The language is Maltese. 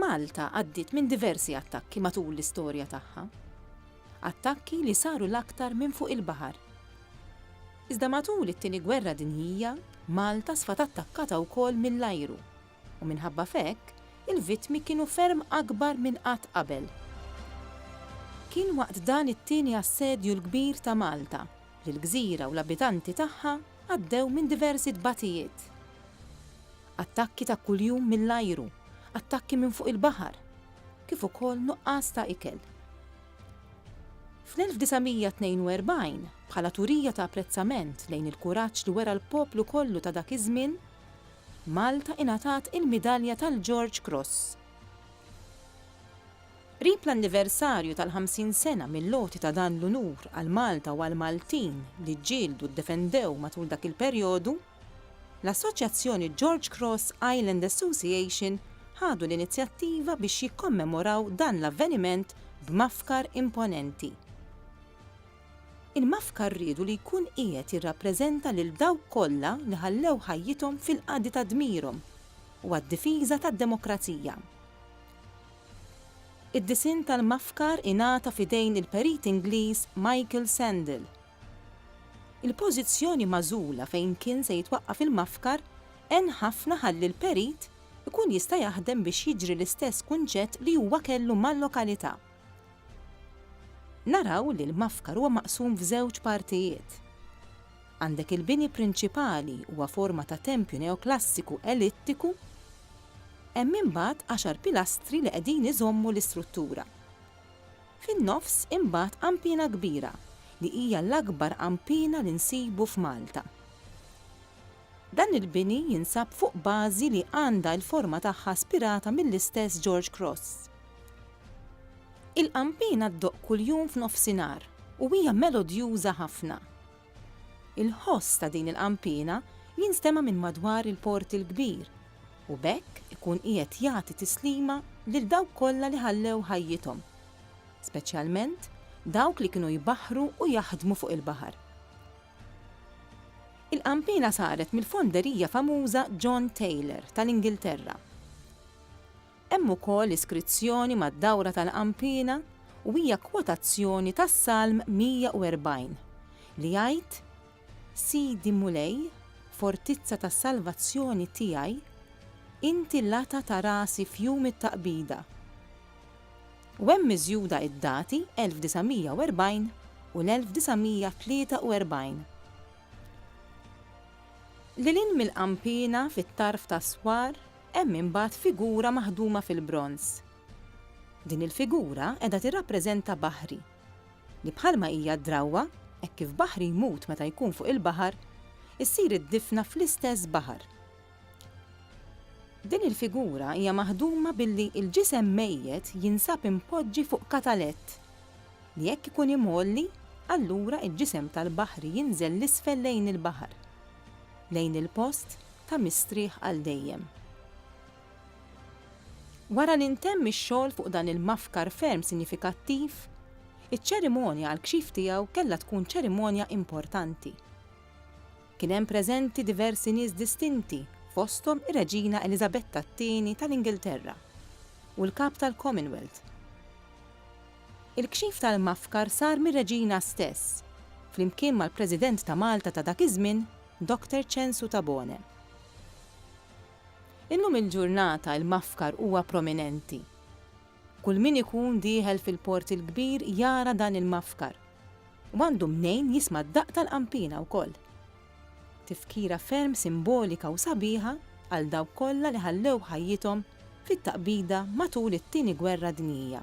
Malta għaddiet minn diversi attakki matul l-istorja tagħha. Attakki li saru l-aktar minn fuq il-baħar. Iżda matul it-Tieni Gwerra Dinjija, Malta sfat attakkata wkoll mill-ajru u minħabba f'hekk il-vittmi kienu ferm akbar minn qatt qabel. Kien waqt dan it-tieni assedju l-kbir ta' Malta li l-gżira u l-abitanti tagħha għaddew minn diversi tbatijiet. Attakki ta' kuljum mill-ajru, attakki minn fuq il-baħar, kif ukoll nuqqas ta' ikel. Fl-1942, bħala turija ta' apprezzament lejn il-kuraġġ li wera l-poplu kollu ta' dak iż-żmien, Malta ingħatat il-Midalja tal-George Cross. Qrib l-anniversarju tal-ħamsin sena mill-għoti ta' dan l-unur għal Malta u għall-Maltin li ġġieldu u ddefendew matul dak il-perjodu, L-Assoċjazzjoni George Cross Island Association ħadu l-inizjattiva biex jikkommemoraw dan l-avveniment b'mafkar imponenti. Il-mafkar riedu li jkun qiegħed jirrappreżenta lil dawk kollha li ħallew ħajjithom fil-qadi ta' dmirhom u għad-difiża tad-demokrazija. Id-disinn tal-mafkar ingħata f'idejn il-Perit Ingliż Michael Sandel, Il-pożizzjoni magħżula fejn kien se jitwaqqaf il-mafkar għen ħafna ħalli l-perit ikun jista' jaħdem biex jiġri l-istess kunċett li huwa kellu mal-lokalità. Naraw li l-mafkar huwa maqsum f'żewġ partijiet. Għandek il-bini prinċipali huwa forma ta' tempju neoklassiku elittiku. Hemm imbagħad għaxar pilastri li qegħdin iżommu l-istruttura. Fin-nofs imbagħad qampina kbira li hija l-akbar qampina li nsibu f'Malta. Dan il-bini jinsab fuq bażi li għandha il-forma tagħha spirata mill-istess George Cross. Il-qampina ddoqq kuljum f'nofsinhar u hija melodjuża ħafna. Il-ħoss ta' din il-qanpiena jinstema' minn madwar il-Port il-Kbir u b'hekk ikun qiegħed jagħti tislima lil dawk kollha li ħallew ħajjithom, speċjalment dawk li kienu jbaħħru u jaħdmu fuq il-baħar. Il-qanpiena saret mill-fonderija famuża John Taylor tal-Ingilterra. Hemm ukoll iskrizzjoni mad-dawra tal-Qampina u hija kwotazzjoni tas-Salm 140, li jgħid, Sidi Mulej, fortizza tas-salvazzjoni tiegħi, inti l-għata ta' rasi f'jum it-taqbida. U hemm miżjuda d-dati 1940 u l-1943. Lil hinn mill-Qampina, fit-tarf ta' Swar, Hemm imbagħad figura maħduma fil-bronż. Din il-figura qiegħda tirrappreżenta Baħri, li bħalma hija d-drawwa, hekk kif Baħri jmut meta jkun fuq il-baħar, issir id-difna fl-istess baħar. Din il-figura hija maħduma billi l-ġisem mejjet jinsab impoġġi fuq katalett. li jekk ikun imgħolli, allura l-ġisem tal-baħri jinżel 'l isfel lejn il-baħar, lejn il-post ta' mistrieħ għal dejjem. Wara li ntemm ix-xogħol fuq dan il-mafkar ferm sinjifikattiv, iċ-ċerimonja għall-kxif tiegħu kellha tkun ċerimonja importanti. Kien hemm preżenti diversi nies distinti fosthom ir-Reġina Eliżabetta t-Tieni tal-Ingilterra u l-Kap tal-Commonwealth. Il-kxif tal-mafkar sar mir-Reġina stess, flimkien mal-President ta' Malta ta' dak iż-żmien, Dr. Ċensu Tabone. Illum il-ġurnata l-mafkar huwa prominenti. Kull min ikun dieħel fil-Port il-Kbir jara dan il-mafkar. U għandu mnejn jisma' d-daqq tal-qanpiena wkoll. Tifkira ferm simbolika u sabiħa għal dawk kollha li ħallew ħajjithom fit-taqbida matul it-Tieni Gwerra Dinjija.